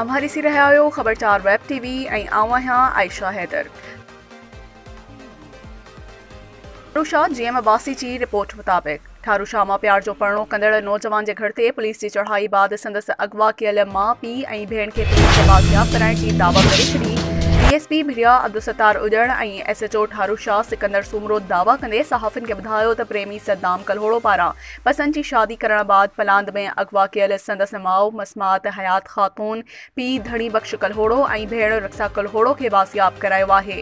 اوهان ڏسي رهيا آهيو خبرچار ويب ٽي وي ۽ آئون آهيان عائشه حيدر. فروشاد جي ايم عباسي جي رپورٽ مطابق. ٿارو شاهه مان پيار جو پرڻو ڪندڙ نوجوان جي گهر تي پوليس جي چڙهائي بعد سندس اغوا ڪيل ماء، پيء ۽ ڀيڻ کي پوليس کي بازياب ڪرائڻ جي دعويٰ ڪري ڇڏي. D S P Bhiria Abdul Sattar اڄڻ ۽ S H O Tharo Shah Sikandar Soomro دعويٰ ڪندي صحافين کي ٻڌايو ته پريمي صدام ڪلهوڙو پاران پسند جي شادي ڪرڻ بعد پلاند ۾ اغوا ڪيل سندس ماء مسمات حيات خاتون، پيء ڌڻي بخش ڪلهوڙو ۽ ڀيڻ رخسا ڪلهوڙو کي بازياب ڪرايو آهي.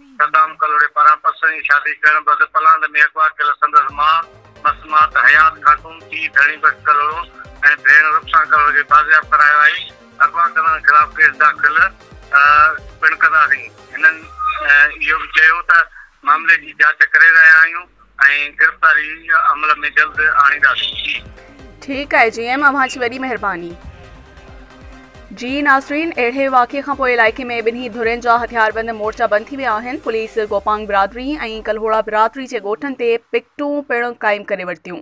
صدام ڪلهوڙي پاران پسرين شادي ڪرڻ بعد پلاند ۾ اغوا ڪيل سندس ماء مسمات حيات خاتون، پيء ڌڻي بخش ڪلهوڙو ۽ ڀيڻ رخسان ڪلهوڙو کي بازياب ڪرايو آهي. اغوا ڪندڙن خلاف ڪيس داخل پڻ ڪنداسين. هنن اهو به چيو ته معاملي جي جاچ ڪري رهيا آهيون. ۽ گرفتاري عمل ۾ جلد آڻينداسين. ٺيڪ آهي جي ايم اوهان جي وڏي مهرباني. جي ناظرين اهڙي واقعي کان پوء علائقي ۾ ٻنهي ڌرين جا هٿياربند مورچا بند ٿي ويا آهن پوليس گوپانگ برادري ۽ ڪلهوڙا برادري جي ڳوٺن تي پڪٽون پڻ قائم ڪري ورتيون.